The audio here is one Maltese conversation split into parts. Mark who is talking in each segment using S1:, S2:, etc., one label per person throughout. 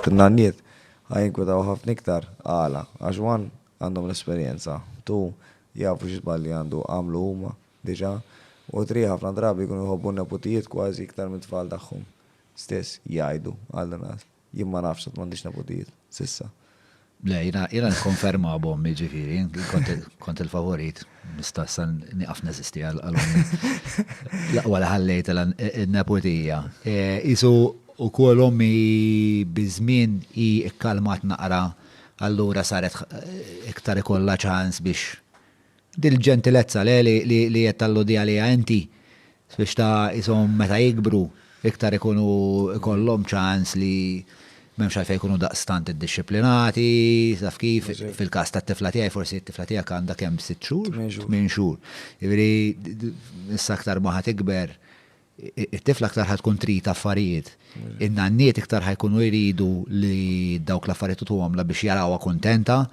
S1: T-nanniet ħa jinkwetaw ħafna iktar. Għala? Għax one, għandhom l-esperjenza, two, jafu xi żbalji għandu għamlu huma diġà, u three, ħafna drabi jkunu jħobbu n-neputijiet kważi iktar mit-tfal tagħhom stess, jgħidu, għall-inqas. Jien ma nafx għad m'għandix neputijiet, s'issa. Le, jiena, jiena nikkonferma b'ommi ġifieri, kont, kont il-favorit, nista' issa nieqaf neżisti għal għal ommi. L-aqwa li ħallejt l in-neputija. Qisu wkoll ommi biż-żmien hi kkalmat naqra, allura saret iktar ikollha ċans biex Dil-ġentilezza, le, li qed talludi għaliha inti, biex ta' qishom meta jikbru, iktar ikunu jkollhom ċans li m'hemmx għalfejn ikunu daqstant iddixxiplinati, taf kif, fil-każ tat-tifla tiegħi, forsi t-tifla tiegħek għandha kemm sitt xhur? Tmien xhur. Tmien xhur. Jiġifieri, issa aktar ma ħa tikber, It-tifla aktar ħa tkun trid affarijiet. In-nanniet iktar ħa jkunu jridu li dawk l-affarijiet tutuhomla biex jarawha kuntenta.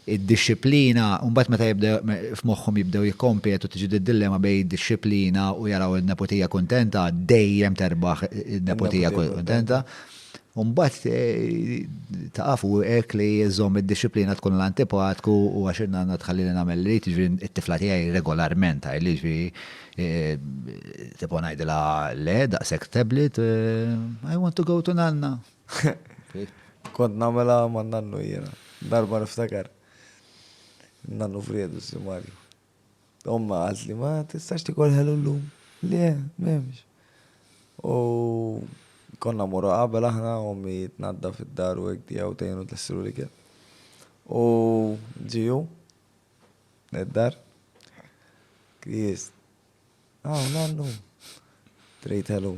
S1: Id-dixxiplina, u mbagħad meta jibda f'moħħhom jibdew jikkompetu tiġi d-dillema bejn id-dixxiplina u jaraw in-neputija kuntenta, dejjem terbaħ in-neputija kuntenta. U mbagħad taqaf u hekk li jżomm id-dixxiplina tkun l-antipatku u għax in-nanna tħallini nagħmel li trid, jiġifieri t-tifla tiegħi regolarment tgħidli jiġifieri Tipo ngħidilha le daqshekk tablet, I want to go to nanna. Kont nagħmilha ma' nannu jiena. Darba niftakar. Nannu friedu si Marju. Omma qalt li ma tistax tikol ħelu llum. Le, m'hemmx. U konna morru qabel aħna ommi tnadda fid-dar u hekk tiegħu tgħinu tlessilu l-ikel. U ġiju. Id-dar. Kris. Ah, nannu. Trejt hello.